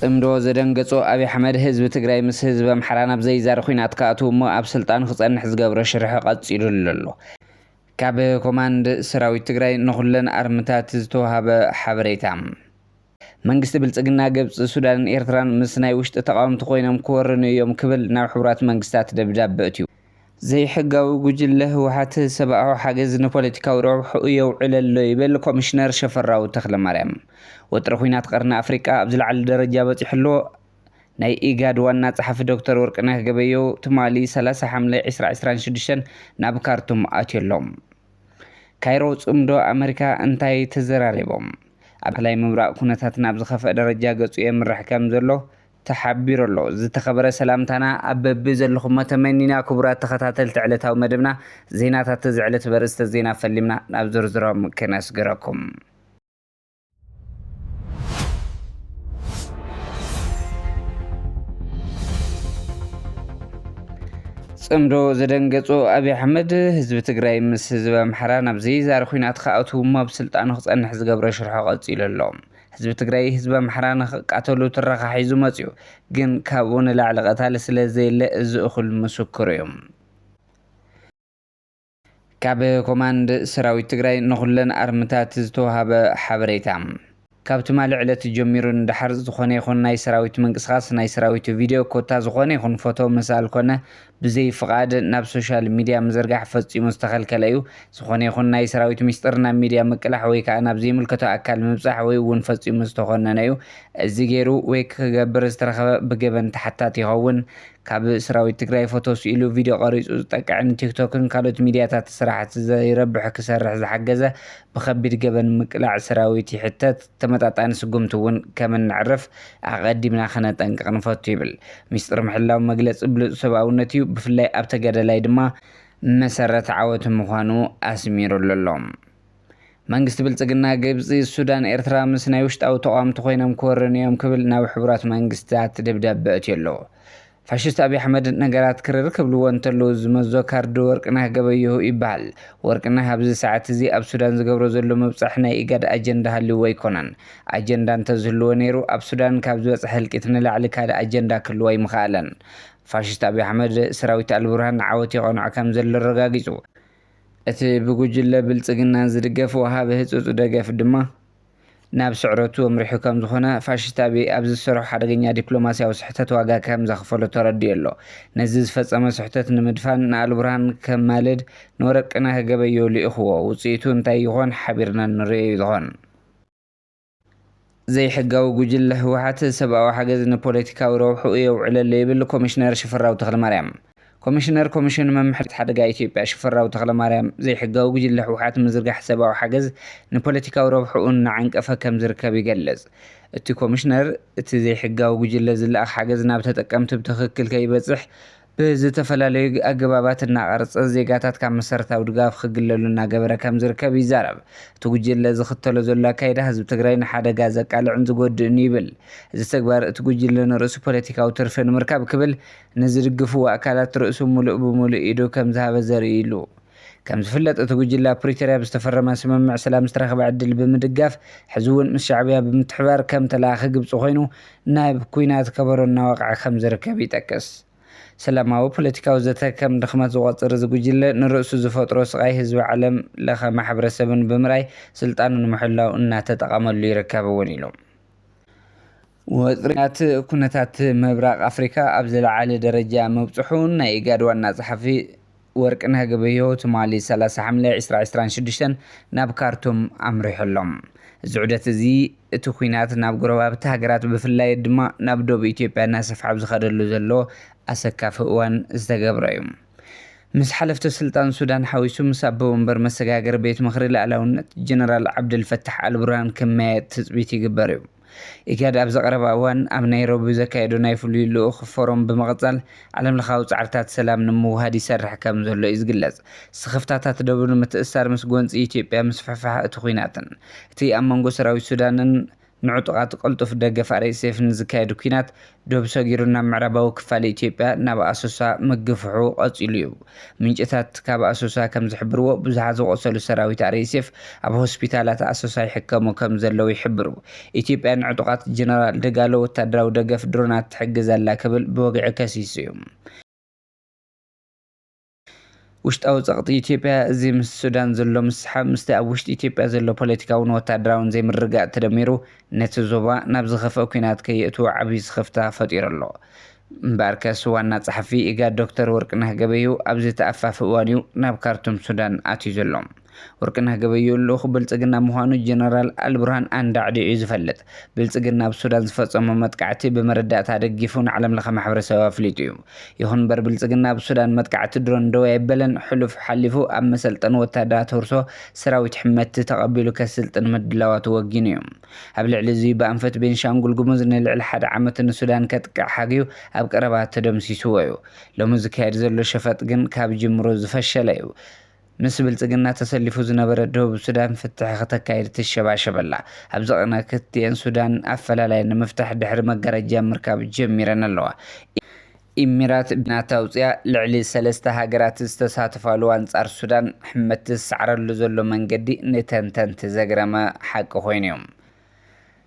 ፅምዶ ዘደንገፆ ኣብይ ኣሕመድ ህዝቢ ትግራይ ምስ ህዝቢ ኣምሓራ ናብ ዘይዛሪ ኹናት ክኣትው እሞ ኣብ ስልጣኑ ክፀንሕ ዝገብሮ ሽርሒ ቐፂሉሉ ኣሎ። ካብ ኮማንድ ሰራዊት ትግራይ ንኹለን ኣርምታት ዝተውሃበ ሓበሬታ። መንግስቲ ብልፅግና ግብፂ፣ ሱዳንን ኤርትራን ምስ ናይ ውሽጢ ተቓወምቲ ኮይኖም ክወርኑ እዮም ክብል ናብ ሕቡራት መንግስታት ደብዳበ ኣእትዩ። ዘይሕጋዊ ጉጅለ ህወሓት ሰብኣዊ ሓገዝ ንፖለቲካዊ ረብሕኡ የውዕል ኣሎ ይብል ኮሚሽነር ሸፈራው ተኽለማርያም። ወጥሪ ኹናት ቐርኒ ኣፍሪቃ ኣብ ዝለዓለ ደረጃ በፂሑ ኣሎ ናይ ኢጋድ ዋና ፀሓፊ ዶክተር ወርቅነህ ገበየሁ ትማሊ ሰላሳ ሓምለ ዕስራ ዕስራን ሽዱሽተን ናብ ካርቱም ኣትዩ ኣሎ። ካይሮ ፅምዶ ኣመሪካ እንታይ ተዘራሪቦም? ኣብ ማእኸላይ ምብራቕ ኩነታት ናብ ዝኸፍኣ ደረጃ ገፁ የምርሕ ከም ዘሎ ተሓቢሩ ኣሎ። ዝተኸበረ ሰላምታና ኣብ በቢ ዘለኹሞ ተመኒና ክቡራት ተኸታተልቲ ዕለታዊ መደብና ዜናታት እዚ ዕለት በርእስተ ዜና ፈሊምና ናብ ዝርዝሮም ክነስግረኩም። ፅምዶ ዘደንገፆ ኣብይ ኣሕመድ ህዝቢ ትግራይ ምስ ህዝቢ ኣምሓራ ናብ ዘይዛሪ ኩናት ክኣትው እሞ ኣብ ስልጣኑ ክፀንሕ ዝገብሮ ሽርሖ ቀፂሉ ኣሎ። ህዝቢ ትግራይ ህዝቢ ኣምሓራ ንክቃተሉ ትረኻ ሒዙ መፅዩ ግን ካብኡ ንላዕሊ ቀታሊ ስለዘየለ እዚ እኹል ምስክሩ እዩ። ካብ ኮማንድ ሰራዊት ትግራይ ንኹለን ኣርምታት ዝተውሃበ ሓበሬታ። ካብ ትማሊ ዕለት ጀሚሩ ንደሓር ዝኾነ ይኹን ናይ ሰራዊት ምንቅስቓስ፣ ናይ ሰራዊት ቪድዮ ኮታ ዝኾነ ይኹን ፎቶ ምሳኣል ኮነ ብዘይ ፍቓድ ናብ ሶሻል ሚድያ ምዝርጋሕ ፈፂሙ ዝተኸልከለ እዩ። ዝኾነ ይኹን ናይ ሰራዊት ሚስጥር ናብ ሚድያ ምቅላሕ ወይ ከዓ ናብ ዘይምልከቶ ኣካል ምብፃሕ ወይ እውን ፈፂሙ ዝተኾነነ እዩ። እዚ ገይሩ ወይ ክገብር ዝተረኸበ ብገበን ተሓታቲ ይኸውን። ካብ ስራዊት ትግራይ ፎቶ ስኢሉ ቪድዮ ቀሪፁ ዝጠቅዕ ንቲክቶክን ካልኦት ሚድያታት ስራሕቲ ዘይረብሕ ክሰርሕ ዝሓገዘ ብከቢድ ገበን ምቅላዕ ስራዊት ይሕተት ተመጣጣኒ ስጉምቲ እውን ከምነዕርፍ ኣቐዲምና ከነጠንቅቕ ንፈቱ ይብል ሚስጥር ምሕላው መግለፂ ብሉፅ ሰብኣውነት እዩ ብፍላይ ኣብ ተጋዳላይ ድማ መሰረት ዓወቱ ምዃኑ ኣስሚሩሉ ኣሎ። መንግስቲ ብልፅግና ግብፂ፣ ሱዳን፣ ኤርትራ ምስ ናይ ውሽጣዊ ተቋምቲ ኮይኖም ክወርኒ እዮም ክብል ናብ ሕቡራት መንግስታት ደብዳበ ኣእትዮ ኣሎ። ፋሽስት ኣብይ ኣሕመድ ነገራት ክርር ክብልዎ እንተለዉ ዝመዞ ካርድ ወርቅነህ ገበየሁ ይበሃል። ወርቅነህ ኣብዚ ሰዓት እዚ ኣብ ሱዳን ዝገብሮ ዘሎ ምብፃሕ ናይ ኢጋድ ኣጀንዳ ሃልይዎ ኣይኮነን። ኣጀንዳ እንተዝህልዎ ነይሩ ኣብ ሱዳን ካብ ዝበፅሐ ህልቂት ንላዕሊ ካልእ ኣጀንዳ ክህልዎ ኣይምኸኣለን። ፋሽስት ኣብይ ኣሕመድ ሰራዊት ኣልቡርሃን ንዓወት የቐንዖ ከምዘሎ ኣረጋጊፁ። እቲ ብጉጅለ ብልጽግና ዝድገፍ ወሃቢ ህጹጽ ደገፍ ድማ ናብ ስዕረቱ ኣምሪሑ ከምዝኾነ ፋሽስት ኣብይ ኣብ ዝሰርሖ ሓደገኛ ዲፕሎማስያዊ ስሕተት ዋጋ ከምዘኽፈሎ ተረዲኡ ኣሎ። ነዚ ዝፈጸሞ ስሕተት ንምድፋን ንኣልቡርሃን ከማልድ ንወረቅነህ ገበየሁ ልኢኹዎ። ውጽኢቱ እንታይ ይኾን ሓቢርና ንርእዮ ይኾን። ዘይሕጋዊ ጉጅለ ህወሓት ሰብኣዊ ሓገዝ ንፖለቲካዊ ረብሕኡ የውዕለሉ ይብል ኮሚሽነር ሽፈራው ተኽለማርያም። ኮሚሽነር ኮሚሽን ምምሕዳር ሓደጋ ኢትዮጵያ ሽፈራው ተኽለማርያም፣ ዘይሕጋዊ ጉጅለ ህወሓት ምዝርጋሕ ሰብኣዊ ሓገዝ ንፖለቲካዊ ረብሕኡ እናዓንቀፈ ከምዝርከብ ይገልጽ። እቲ ኮሚሽነር፣ እቲ ዘይሕጋዊ ጉጅለ ዝለኣኽ ሓገዝ ናብ ተጠቀምቲ ብትኽክል ከይበጽሕ ብዝተፈላለዩ ኣገባባት እናቐረፀ ዜጋታት ካብ መሰረታዊ ድጋፍ ክግለሉ እናገበረ ከምዝርከብ ይዛረብ። እቲ ጉጅለ ዝኽተሎ ዘሎ ኣካይዳ ህዝቢ ትግራይ ንሓደጋ ዘቃልዕን ዝጎድእን እዩ ይብል። እዚ ተግባር እቲ ጉጅለ ንርእሱ ፖለቲካዊ ትርፊ ንምርካብ ክብል ንዝድግፍዎ ኣካላት ርእሱ ሙሉእ ብሙሉእ ኢዱ ከምዝሃበ ዘርእይ ኢሉ። ከም ዝፍለጥ እቲ ጉጅለ ኣብ ፕሪቶርያ ብዝተፈረመ ስምምዕ ሰላም ዝተረኽበ ዕድል ብምድጋፍ ሕዚ እውን ምስ ሻዕብያ ብምትሕብባር ከም ተለኣኺ ግብፂ ኮይኑ ናብ ኲናት ከበሮ እናወቕዐ ከም ዝርከብ ይጠቅስ። ሰላማዊ ፖለቲካዊ ዘተ ከም ድኽመት ዝቖፅር እዚ ጉጅለ ንርእሱ ዝፈጥሮ ስቓይ ህዝቢ ዓለም ለኸ ማሕብረሰብን ብምርኣይ ስልጣኑ ንምሕላው እናተጠቐመሉ ይርከብ እውን ኢሉ። ወጥሪታት ኩነታት ምብራቕ ኣፍሪካ ኣብ ዝለዓለ ደረጃ ምብፅሑ ናይ ኢጋድ ዋና ፀሓፊ ወርቅነህ ገበየሁ ትማሊ ሰላሳ ሓምለ ዕስራ ዕስራን ሽዱሽተን ናብ ካርቱም ኣምሪሑ ኣሎ። እዚ ዑደት እዚ እቲ ኲናት ናብ ጎረባብቲ ሃገራት ብፍላይ ድማ ናብ ዶብ ኢትዮጵያ እናሰፍሐ ኣብ ዝኸደሉ ዘሎ ኣሰካፊ እዋን ዝተገብረ እዩ። ምስ ሓለፍቲ ስልጣን ሱዳን ሓዊሱ ምስ ኣቦ ወንበር መሰጋገሪ ቤት ምኽሪ ልኣላውነት ጀነራል ዓብደልፈታሕ ኣልቡርሃን ክመያየጥ ትፅቢት ይግበር እዩ። ኢጋድ ኣብዚ ቀረባ እዋን ኣብ ናይሮቢ ዘካየዶ ናይ ፍሉይ ልኡኽ ፎረም ብምቕፃል ዓለምለኻዊ ፃዕርታት ሰላም ንምውሃድ ይሰርሕ ከምዘሎ እዩ ዝግለፅ። ስኽፍታታት ደቡብ ንምትእስሳር ምስ ጎንፂ ኢትዮጵያ ምስፍሕፋሕ እቲ ኵናትን እቲ ኣብ መንጎ ሰራዊት ሱዳንን ንዕጡቓት ቅልጡፍ ደገፍ RSF ንዝካየድ ኵናት ዶብ ሰጊሩ ናብ ምዕራባዊ ክፋል ኢትዮጵያ ናብ ኣሶሳ ምግፍሑ ቀጺሉ'ዩ። ምንጭታት ካብ ኣሶሳ ከም ዝሕብርዎ ብዙሓት ዝቖሰሉ ሰራዊት RSF ኣብ ሆስፒታላት ኣሶሳ ይሕከሙ ከም ዘለዉ ይሕብሩ። ኢትዮጵያ ንዕጡቓት ጀነራል ደጋሎ ወታደራዊ ደገፍ ድሮናት ትሕግዝ ኣላ ክብል ብወግዒ ከሲሱ'ዩ። ውሽጣዊ ጸቕጢ ኢትዮጵያ፣ እዚ ምስ ሱዳን ዘሎ ምስሕሓብ፣ ምስቲ ኣብ ውሽጢ ኢትዮጵያ ዘሎ ፖለቲካውን ወተሃደራውን ዘይምርግጋእ ተደሚሩ፣ ነቲ ዞባ ናብ ዝኸፍኣ ኲናት ከየእትዎ ዓቢ ስኽፍታ ፈጢሩ ኣሎ። እምበኣርከስ ዋና ጸሓፊ ኢጋድ ዶክተር ወርቅነህ ገበየሁ ኣብዚ ተኣፋፊ እዋን'ዩ ናብ ካርቱም ሱዳን ኣትዩ ዘሎ። ወርቅነህ ገበየሁ ልኡኽ ብልፅግና ምዃኑ ጀነራል ኣልቡርሃን ኣንዳዕዲዑ እዩ ዝፈልጥ። ብልፅግና ኣብ ሱዳን ዝፈፀሞ መጥቃዕቲ ብመረዳእታ ደጊፉ ንዓለምለኸ ማሕበረሰብ ኣፍሊጡ እዩ። ይኹን እምበር ብልፅግና ኣብ ሱዳን መጥቃዕቲ ድሮን ደው ኣይበለን፣ ሕሉፍ ሓሊፉ ኣብ መሰልጠኒ ወታደራት ህርሶ ሰራዊት ሕመቲ ተቐቢሉ ከስልጥን ምድላዋቱ ወጊኑ እዩ። ኣብ ልዕሊ እዙይ ብኣንፈት ቤንሻንጉል ጉሙዝ ንልዕሊ ሓደ ዓመት ንሱዳን ከጥቅዕ ሓግዩ ኣብ ቀረባ ተደምሲሱዎ እዩ። ሎሚ ዝካየድ ዘሎ ሸፈጥ ግን ካብ ጅምሩ ዝፈሸለ እዩ። ምስ ብልጽግና ተሰሊፉ ዝነበረ ደቡብ ሱዳን ፍትሕ ክተካይድ ትሸባሸብ ኣላ። ኣብዚ ቅነ ክልቲኤን ሱዳን ኣፈላላይ ንምፍታሕ ድሕሪ መጋረጃ ምርካብ ጀሚረን ኣለዋ። ኢሚራት ብናታ ኣውጺኣ ልዕሊ ሰለስተ ሃገራት ዝተሳተፋሉ ኣንጻር ሱዳን ሕመት ዝሰዕረሉ ዘሎ መንገዲ ንተንተንቲ ዘግረመ ሓቂ ኮይኑ'ዩ።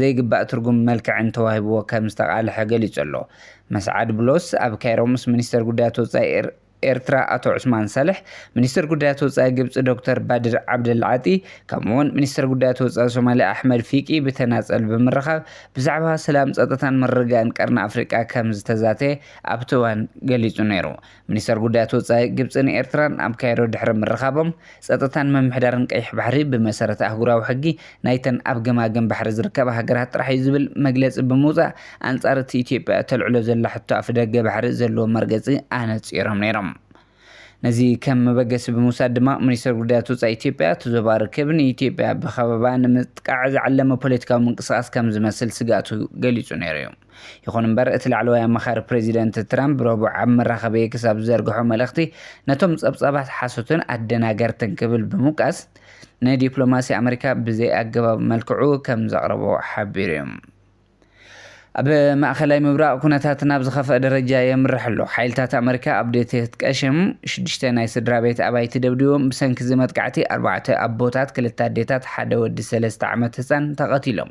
ዘይግባእ ትርጉምን መልክዕን ተዋሂብዎ ከም ዝተቓለሐ ገሊጹ'ሎ። መስዓድ ብሎስ ኣብ ካይሮ ምስ ሚኒስተር ጉዳያት ወጻኢ ኤርትራ ኣቶ ዑስማን ሳልሕ፣ ሚኒስተር ጉዳያት ወጻኢ ግብጺ ዶክተር ባድር ዓብደልዓጢ፣ ከምኡ'ውን ሚኒስተር ጉዳያት ወጻኢ ሶማልያ ኣሕመድ ፊቂ ብተናጸል ብምርኻብ ብዛዕባ ሰላም፣ ጸጥታን ምርግጋእን ቀርኒ ኣፍሪቃ ከም ዝተዛተየ ኣብቲ እዋን ገሊጹ ነይሩ። ሚኒስተር ጉዳያት ወጻኢ ግብጽን ኤርትራን ኣብ ካይሮ ድሕሪ ምርኻቦም፣ ጸጥታን ምምሕዳርን ቀይሕ ባሕሪ ብመሰረት ኣህጉራዊ ሕጊ ናይተን ኣብ ገማግም ባሕሪ ዝርከባ ሃገራት ጥራሕ'ዩ ዝብል መግለጺ ብምውጻእ፣ ኣንጻር እቲ ኢትዮጵያ እተልዕሎ ዘላ ሕቶ ኣፍደገ ባሕሪ ዘለዎ መርገጺ ኣነጺሮም ነይሮም። ነዚ ከም መበገሲ ብምውሳድ ድማ፣ ሚኒስተር ጉዳያት ወጻኢ ኢትዮጵያ፣ እቲ ዞባ ርክብ ንኢትዮጵያ ብኸበባ ንምጥቃዕ ዝዓለመ ፖለቲካዊ ምንቅስቓስ ከም ዝመስል ስግኣቱ ገሊጹ ነይሩ'ዩ። ይኹን እምበር እቲ ላዕለዋይ ኣማኻሪ ፕረዚደንት ትራምፕ ረቡዕ ኣብ መራኸቢ ኤክስ ኣብ ዝዘርግሖ መልእኽቲ ነቶም ጸብጻባት ሓሶትን ኣደናገርትን ክብል ብምውቃስ ንዲፕሎማሲ ኣመሪካ ብዘይኣገባብ መልክዑ ከም ዘቕረቦ ሓቢሩ እዩ። ኣብ ማእኸላይ ምብራቕ ኩነታት ናብ ዝኸፍአ ደረጃ የምርሕ ኣሎ። ሓይልታት ኣመሪካ ኣብ ዴቴት ቀሽም ሽዱሽተ ናይ ስድራ ቤት ኣባይቲ ደብዲቦም ብሰንኪ እዚ መጥቃዕቲ ኣርባዕተ ኣቦታት፣ ክልተ ኣዴታት፣ ሓደ ወዲ ሰለስተ ዓመት ህፃን ተቐቲሎም።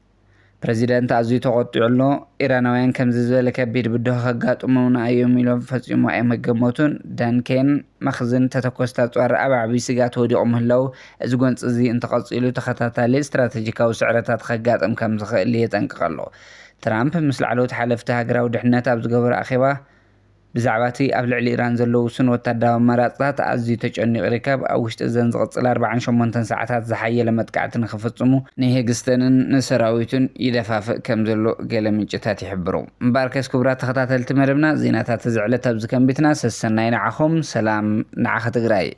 ፕረዚደንት ኣዝዩ ተቖጢዑ ኣሎ፣ ኢራናውያን ከምዚ ዝበለ ከቢድ ብድሆ ከጋጥሙና እዮም ኢሎም ፈጺሙ ኣይምገመቱን፣ ዳን ኬን፣ መኽዝን ተተኮስቲ ኣጽዋር ኣብ ዓቢ ስግኣት ወዲቑ ምህላዉ፣ እዚ ጎንጺ እዚ እንተቐጺሉ ተኸታታሊ ስትራተጂካዊ ስዕረታት ኸጋጥም ከም ዝኽእል የጠንቅቕ ኣሎ። ትራምፕ ምስ ላዕለዎት ሓለፍቲ ሃገራዊ ድሕነት ኣብ ዝገበሮ ኣኼባ፣ ብዛዕባ'ቲ ኣብ ልዕሊ ኢራን ዘሎ ውሱን ወተሃደራዊ ኣማራጺታት ኣዝዩ ተጨኒቑ ይርከብ፣ ኣብ ውሽጢ እዘን ዝቕጽል ኣርባዓን ሸሞንተን ሰዓታት ዝሓየለ መጥቃዕቲ ንኽፍጽሙ ንሄግስተንን ንሰራዊቱን ይደፋፍእ ከም ዘሎ ገለ ምንጭታት ይሕብሩ። እምበኣርከስ ክቡራት ተኸታተልቲ መደብና፣ ዜናታት እዚ ዕለት ኣብዚ ከንቢትና፣ ሰሰናዩ ንዓኹም፣ ሰላም ንዓኺ ትግራይ!